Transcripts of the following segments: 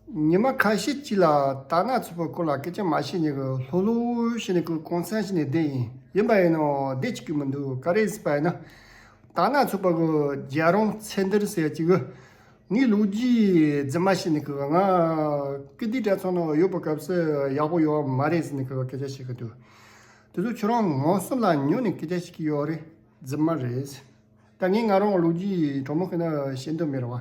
ཉི་མ་ཁ་ཤས་ཅིག་ལ་དར་ནག་ཚོས་བོད་སྐོར་ལ་སྐད་ཆ་མ་བཤད་ནས་གི་ལྷོ་ལྷོ་བཤད་ནས་གི་གོང་ཚད་བཤད་ནས་བསྡད་ཡིན་ཡིན་པ་ཡིན་ནོ་བསྡད་ཅིག་གི་མི་འདུག་ག་རེ་ཟེར་པ་ཡིན་ན། དར་ནག་ཚོས་པ་གི་རྒྱལ་རོང་ཚད་འདིར་ཟེར་ཅིག་གི་ངའི་ལུག་རྒྱུའི་རྫི་མ་བཤད་ནས་གི་ང་ཀི་འདི་དྲ་ཚང་ན་ཡོད་པ་གབ་ས་ཡག་པོ་ཡོད་མ་རེད་ཟེར་ནས་གི་སྐད་ཆ་བཤད་གི་འདུག་དེ་ཚོ་ཁྱོད་རང་ངོ་གསུམ་ལ་ཉོན་ནས་སྐད་ཆ་བཤད་གི་ཡོད་རེད་རྫི་མ་རེད། ད་ངས་ང་རང་ལུག་རྒྱུའི་གྲོགས་མོ་ཁོ་ན་བཤད་འདོད་མེད་རེད་བ།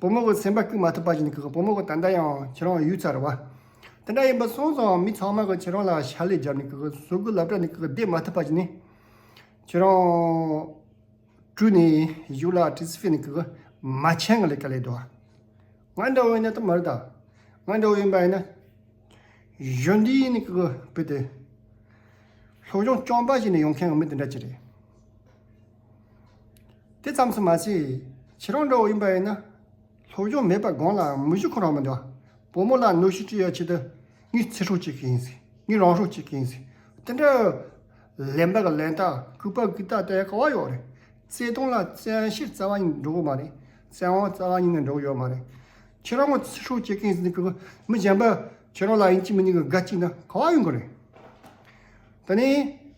བུ་མོ་གི་སེམས་པ་སྐྱུག་མ་ཐུབ་པ་བཞིན་གི་བུ་མོ་གི་ད་ལྟ་ཡང་ཁྱེད་རང་ཡུལ་ཚར་བ་དེ་འདྲ་ཡིན་པ་སོང་ཙང་མི་ཚང་མ་གི་ཁྱེད་རང་ལ་ཞལ་ལས་བརྒྱབ་ནས་གི་གཟུགས་ཀི་ལབ་གྲ་ནས་གི་བསྡད་མ་ཐུབ་པ་བཞིན་ཁྱེད་རང་བཀྲུས་ནས་བཞུགས་ལ་ཏྲི་སི་ཕི་ནས་གི་མ་ཁྱེད་གི་ལས་ཀ་ལས་དོ་ང་འདྲ་བོ་ཡིན་ན་ད་མར་ད་ང་འདྲ་བོ་ཡིན་པ་ཡིན་ན་གཞོན་དུས་ཡིན་ནས་གི་བུད་དེ་སློབ་སྦྱོང་སྐྱོང་པ་བྱེད་ནས་ཡོང་མཁན་གི་མི་དེ་འདྲ་གྱི་རེད། དེ་ཙམ་སུ་མ་བྱས། ཁྱེད་རང་འདྲ་བོ་ཡིན་པ་ཡིན་ན། སློབ་སྦྱོང་མེད་པར་དགོངས་ལའང་མི་ཞུ་ཁོ་རང་མི་འདུག་བུ་མོ་ལ་གནོད་གཞི་སྤྲོད་ཡ་ཆེད་དུ། ངའི་ཚེ་སྲོག་གཅིག་གི་ཡིན་ཟེར། ངའི་རང་སྲོག་གཅིག་གི་ཡིན་ཟེར། དེ་འདྲ། ལན་པ་གི་ལན་རྟགས་གུས་པ་གུས་རྟགས་བསྟན་ཡ་ག་བ་ཡོད་རེད། བརྩེ་དུང་ལ་བཙན་བཤེར་རྩ་བ་ཉིད་འགྲོ་གི་མ་རེད། བཙན་དབང་རྩ་བ་ཉིད་ནས་འགྲོ་གི་ཡོད་མ་རེད། ཁྱེད་རང་ངོ་ཚེ་སྲོག་གཅིག་གི་ཡིན་ཟེར་ནས་གུས་པ་མི་གཞན་པ་ཁྱེད་རང་ལ་ཡིན་གཅིག་མིན་གཅིག་གི་དགའ་གཅིག་ན་ག་བ་ཡོད་མགོ་རེད། ད་ནི།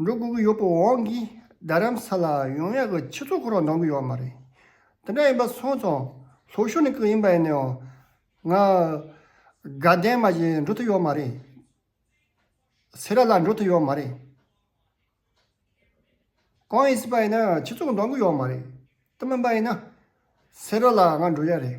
འགྲོ་དགོས་ཀྱི་ཡོད་པ་འོང་གིས་རྡ་རམ་ས་ལ་ཡོང་ཡག་གི་ཆེ་ཚོགས་འཁོར་བ་འདང་གི་ཡོད་མ་རེད། དེ་འདྲ་ཡིན་པ་སོང་ཙང་ལྷོ་ཤོར་ནས་ཀྱི་ཡིན་པ་ཡིན་ནའང་ང་དགའ་ལྡན་མ་བཞིན་འགྲོ་ཐུབ་ཡོད་མ་རེད། སེ་ར་ལ་འགྲོ་ཐུབ་ཡོད་མ་རེད། གང་ཡིན་སྲིད་པ་ཡིན་ནའང་ཆེ་ཚོགས་འདང་གི་ཡོད་མ་རེད། དེ་མིན་པ་ཡིན་ན་སེ་ར་ལ་ང་འགྲོ་ཡག་རེད།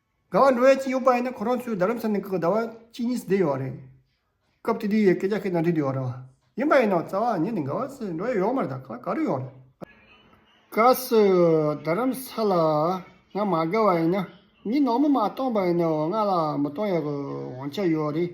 ཟླ་བ་འགྲོ་ཡས་ཅི་ཡོད་པ་ཡིན་ན་ཁོ་རང་ཚོའི་རྡ་རམ་ས་ནས་ཀྱི་ཟླ་བ་གཅིག་གཉིས་སུ་བསྡད་ཡོད་རེད། སྐབས་དེ་དུས་ཡས་སྐད་རྒྱ་ཁའི་ནང་འདྲི་དུས་ཡོད་རེད། ཡིན་པ་ཡིན་ན་རྩ་བ་ཉིད་ནས་འགའ་བ་སུ་འགྲོ་ཡས་ཡོག་མ་རེད་ད་ག་རེ་ཡོག་རེད། ག་སུ་རྡ་རམ་ས་ལ་ང་མ་དགའ་བ་ཡིན་ན་མི་ནོར་མོ་མ་གཏོང་པ་ཡིན་ན་འོ་ང་ལ་མི་གཏོང་ཡས་གི་དབང་ཆ་ཡོད་རེད།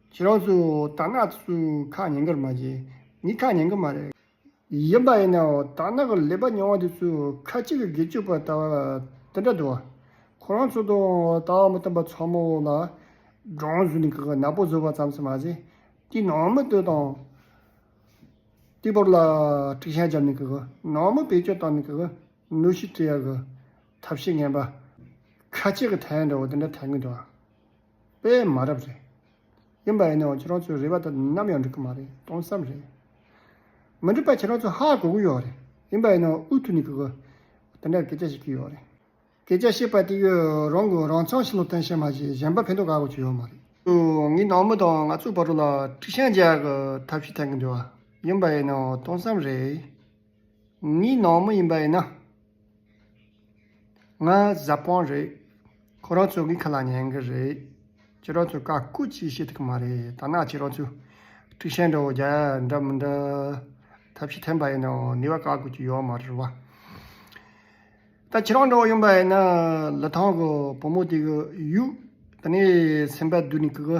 ཁྱེད་རང་ཚོས་དར་ནག་ཚོས་ཁ་ཉན་གི་རེད་མ་གཞི་ནས་ཁ་ཉན་གི་མ་རེད། ཡིན་པ་ཡིན་ནའོ་དར་ནག་གི་ལས་པ་ཉུང་བ་དེ་ཚོས་ཁ་གཅིག་གིས་དགེ་སྤྱོད་པ་ལྟ་བ་དེ་འདྲ་འདུག་ཁོ་རང་ཚོ་དང་ལྟ་བ་མི་མཐུན་པ་ཚོགས་མི་འོག་ལ་སྦྲང་བཟོས་ནས་གི་ནག་པོ་བཟོས་པ་ཙམ་ཟེར་མ་ཟད་དེའི་ནང་མི་ལྟོས་དང། ལྟོས་བབ་ལ་དཀྲིག་ཤ་བརྒྱབ་ནས་གི་ནང་མི་བེད་སྤྱོད་བཏང་ནས་གི་གནོད་ཤུགས་སྤྲད་ཡ་གི་ཐབས་ཤེས་ངན་པ་ཁ་གཅིག་གིས་ཐལ་འདྲ་བོ་དེ་འདྲ་ཐལ་གི་འདུག། པས་མ་རབས་རེད། ཡིན་པ་ཡིན་ནའང་ཁྱེད་རང་ཚོའི་རེ་བ་དེ་དང་ནམ་ཡང་འགྲིག་གི་མ་རེད་སྟོང་བསམ་རེད། མི་འགྲིག་པ་ཁྱེད་རང་ཚོ་ཧ་གོ་གི་ཡོད་རེད། ཡིན་པ་ཡིན་ནའང་ཨུ་ཐུག་ནས་གི་གི། དེ་འདྲར་སྐད་ཆ་བཤད་ཀྱི་ཡོད་རེད། སྐད་ཆ་བཤད་པ་དེ་ཡོད་རང་གི་རང་ཚང་ཞིག་ལ་བསྟན་བཤད་མ་བྱས་གཞན་པ་ཕན་ཐོག་ག་གོ་ཆོད་ཡོད་མ་རེད། ངའི་ནང་མི་དང་ང་ཚོའི་བར་ལ་ཁྲིགས་ཤ་འཇལ་གི་ཐབས་ཤིག་འཐེན་གི་འདུག་ཡིན་པ་ཡིན་ནའང་སྟོང་བསམ་རེད། ངའི་ནང་མི་ཡིན་པ་ཡིན་ན། ང་གཟའ་སྤངས་རེད། ཁོ་རང་ཚོ་གི་ཁ་ལ་ཉན་གི་རེད། ཁྱེད་རང་ཚོས་བཀའ་བཀོད་ཅིག་བྱེད་ཐུབ་ཀྱི་མ་རེད། ཐ་ན་ཁྱེད་རང་ཚོས་ཀྲིག་ཤན་འདྲ་བོ་རྒྱ་ཡག་འདྲ་མི་འདྲ། ཐབས་ཤེས་འཐེན་པ་ཡིན་ནའང་ནུས་པ་བཀའ་བཀོད་ཅིག་ཡོད་མ་རེད་བ། ད་ཁྱེད་རང་འདྲ་བོ་ཡིན་པ་ཡིན་ན། ལི་ཐང་གི་བུ་མོ་དེ་གི་ཡུག་དེ་ནས་སེམས་པ་བསྡུས་ནས་ཀི་གི།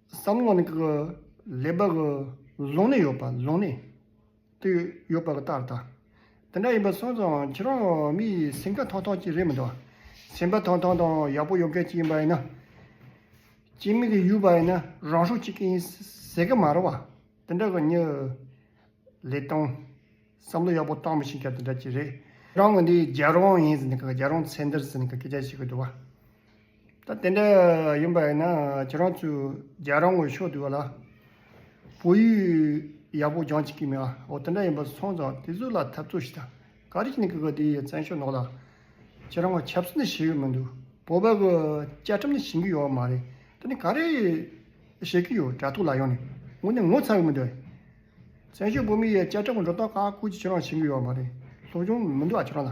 བསམ་བློ་ནི་ལེགས་པ་ལོང་ནས་ཡོད་པ་ལོང་ནས་དུ་ཡོད་པ་ལྟར་དང། དེ་འདྲ་ཡིན་པ་སོང་ཙང་ཁྱེད་རང་མི་ཡི་སེམས་ཁ་ཐོག་ཐོག་ཅིག་རེད་མི་འདུག་སེམས་པ་ཐོག་ཐོག་དང་ཡག་པོ་ཡོད་མཁན་ཅིག་ཡིན་པ་ཡིན་ན། སྤྱི་མི་གི་ཡུལ་བ་ཡིན་ན་རང་ཤུགས་གཅིག་གིས་ཡིན་ཟེར་གི་མ་རེད་བ། དེ་འདྲ་གི་མྱི་ལེགས་དང། བསམ་བློ་ཡག་པོ་བཏང་མི་ཤེས་མཁན་དེ་འདྲ་ཅིག་རེད། རང་ངོས་འདི་རྒྱལ་རོང་ཡིན་ཟེར་ནས་རྒྱལ་རོང་ཚེ་འདིར་ཟེར་ནས་སྐད་ཆ་བཤད་གི་འདུག་བ། ད་དེ་འདྲ་ཡིན་པ་ཡིན་ན་ཁྱེད་རང་ཚོས་རྒྱལ་རོང་གི་ཕྱོགས་བསྡུས་བ་ལ་བོད་ཡིག་ཡག་པོ་སྦྱང་ཅི་གི་མི་འོ་དེ་འདྲ་ཡིན་པ་སོང་ཙང་དེ་ཚོ་ལ་འཐབ་རྩོད་ཞིག་དང་ག་རེ་བྱེད་ནས་གི་དེ་ཡི་བཙན་ཤོག་ནོག་ལ་ཁྱེད་རང་ངོ་ཆབ་སྲིད་ནི་བྱེད་ཡོད་མི་འདུག་བོད་པ་གི་བཅའ་ཁྲིམས་ནི་བྱིན་གི་ཡོད་མ་རེད་དེ་ནི་ག་རེ་བྱེད་གི་ཡོད་དྲ་ཐོག་ལ་ཡོང་ནས་ངོ་ནི་ངོ་ཚ་གི་མི་འདུག་ཨ་བཙན་ཤོག་བོད་མི་ཡི་བཅའ་ཁྲིམས་ཀྱི་འགྲོ་སྟངས་ཁ་ཁུར་ཅིག་ཁྱེད་རང་བྱིན་གི་ཡོད་མ་རེད་སློབ་སྦྱོང་མི་འདུག་ཨ་ཁྱེད་རང་ལ།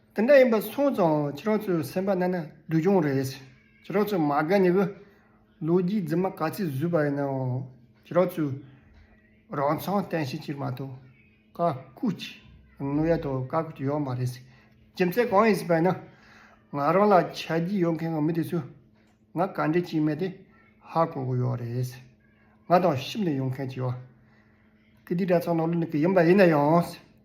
དེ་འདྲ་ཡིན་པ་སོང་ཙང་ཁྱེད་རང་ཚོའི་སེམས་པ་ན་ན་སྡུག་གྱོང་རེད། ཁྱེད་རང་ཚོས་མ་དགའ་ནི་གི། ལོ་རྒྱུས་རྫུན་མ་ག་ཚོད་བཟོས་པ་ཡིན་ནའང་ཁྱེད་རང་ཚོས་རང་མཚང་བསྟན་ཤེས་ཀྱི་མ་གཏོགས་བཀའ་བཀུ་ཅི་ནུས་ཡོད་དོ་བཀའ་བཀུ་ཅི་ཡོད་མ་རེད། རྒྱུ་མཚན་གང་ཡིན་ཟེར་པ་ཡིན་ན། ང་རང་ལ་ཆ་རྒྱུས་ཡོད་མཁན་གྱི་མི་དེ་ཚོས་ང་ག་འདྲའི་སྐྱིད་མེད་དེ་ཧ་གོ་གི་ཡོད་རེད། ང་དང་གཤིབ་ནས་ཡོང་མཁན་གྱི་ཡོད། གི་འདི་འདྲ་ཚང་ནང་ལོགས་ནས་གི་ཡིན་པ་ཡིན་ན་ཡང།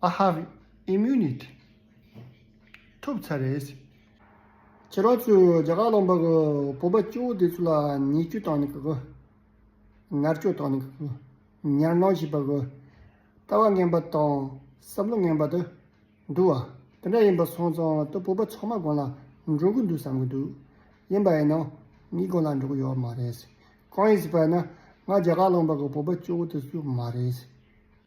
I have immunity ཐུབ་ཚར་རེད། ཁྱེད་རང་ཚོས་རྒྱ་གར་ལམ་བར་གྱི་བོད་པ་སྐྱེ་བོ་དེ་ཚོ་ལ་ཉེས་སྐྱོན་བཏང་ནས་གི་ངར་སྐྱོ་བཏང་ནས་གི་ཉར་སྣང་བྱེད་པ་གི་ལྟ་བ་ངན་པ་དང་བསམ་བློ་ངན་པ་དེ་འདུག་བ་དེ་འདྲ་ཡིན་པ་སོང་ཙང་དེ་བོད་པ་ཚང་མ་དགོན་ལ་འགྲོ་གི་འདུག་བསམ་གི་འདུག་ཡིན་པ་ཡིན་ན་ངས་དགོན་ལ་འགྲོ་གི་ཡོད་མ་རེད། གང་ཡིན་ཟེར་པ་ཡིན་ན་ང་རྒྱ་གར་ལམ་བར་གྱི་བོད་པ་སྐྱེ་བོ་དེ་ཚོ་མ་རེད།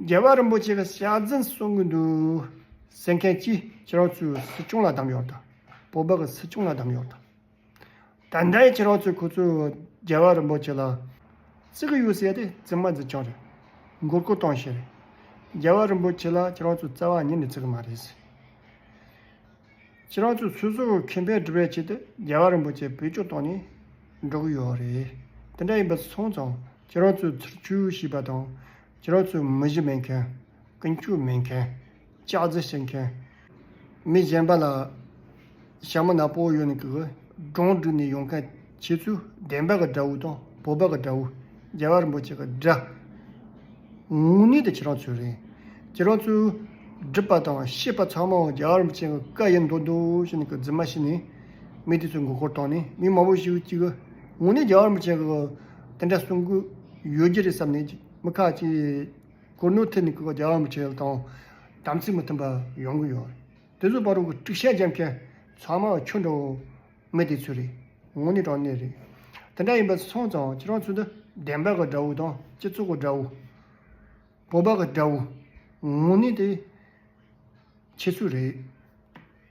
རྒྱལ་བ་རིན་པོ་ཆེ་ལ་ཕྱག་འཛིན་གསུང་གི་འདུག་ཟེར་མཁན་གྱིས་ཁྱེད་རང་ཚོས་སྲིད་སྐྱོང་ལ་གདམས་གཡོག་དང། བོད་པ་གི་སྲིད་སྐྱོང་ལ་གདམས་གཡོག་དང། ད་ལྟ་ཁྱེད་རང་ཚོས་ཁོ་ཚོས་རྒྱལ་བ་རིན་པོ་ཆེ་ལ་བརྩི་གི་ཡོད་ཟེར་ཏེ་བརྩི་མ་བརྩི་ཆོག་རེད། མགོ་སྐོར་གཏོང་ཤེས་རེད། རྒྱལ་བ་རིན་པོ་ཆེ་ལ་ཁྱེད་རང་ཚོས་བརྩེ་བ་ཉིད་ནས་བརྩི་གི་མ་རེད། ཁྱེད་རང་ཚོས་སོ་སོའི་ཁེ་ཕན་སྒྲུབ་པའི་ཆེད་དུ་རྒྱལ་བ་རིན་པོ་ཆེ་བེད་སྤྱོད་བཏང་ནས་འགྲོ་གི་ཡོད་རེད། དེ་འདྲ་ཡིན་པ་སོང་ཙང་ཁྱེད་རང་ཚོས་ཚུར་ཆུད་ཞུས་པ་དང། ཁྱེད་རང་ཚོས་མི་གཞི་མེད་མཁན། ཀུན་སྤྱོད་མེད་མཁན། ལྕགས་རྩི་བྱེད་མཁན། མི་གཞན་པ་ལ་ཞྭ་མོ་ནག་པོ་གཡོག་ནས་གི་སྒྲོང་སྒྲིག་ནས་ཡོང་མཁན། བྱེད་ཚུལ་བདེན་པ་ག་འདྲ་བོ་དང་བོད་པ་ག་འདྲ་བོ་རྒྱལ་བ་རིན་པོ་ཆེ་ག་འདྲ། ངུ་ནི་དེ་ཁྱེད་རང་ཚོའི་རེད། ཁྱེད་རང་ཚོའི་སྒྲུབ་པ་དང་ཤེས་པ་ཚང་མའང་རྒྱལ་བ་རིན་པོ་ཆེ་ག་བཀའ་ཡི་མདོ་མདོ་ཞིག་ནས་ག་རྫུན་མ་ཞིག་ནས་མི་དེ་ཚོའི་མགོ་སྐོར་བཏང་ནས་མི་མང་པོ་ཞིག་ཅིག་ག་ངུ་ནི་རྒྱལ་བ་རིན་པོ་ཆེ་ག་དེ་འདྲ་གསུང་གི་ཡོད་རྒྱུ་རེད་བསམ་ནས་མི་ཁག་ཅིག་གུར་ནོར་ཐེབས་ནས་ག་རྒྱལ་བ་རིན་པོ་ཆེ་དང་དམ་ཚིག་མི་མཐུན་པ་ཡོང་གི་ཡོད། དེ་ཚོ་པར་རོ་ག་དཀྲུག་ཤ་རྒྱབ་མཁན་ཚང་མ་ཁྱོད་འདྲ་བོ། མི་དེ་ཚོའི་རེད། ངོ་ནི་དྲང་གནས་རེད། དེ་འདྲ་ཡིན་པ་སོང་ཙང་ཁྱེད་རང་ཚོ་འདི་བདེན་པ་ག་འདྲ་བོ་དང་སྤྱི་ཚོགས་ག་འདྲ་བོ། བོད་པ་ག་འདྲ་བོ། ངོ་ནི་དེ་ཁྱེད་ཚོའི་རེད།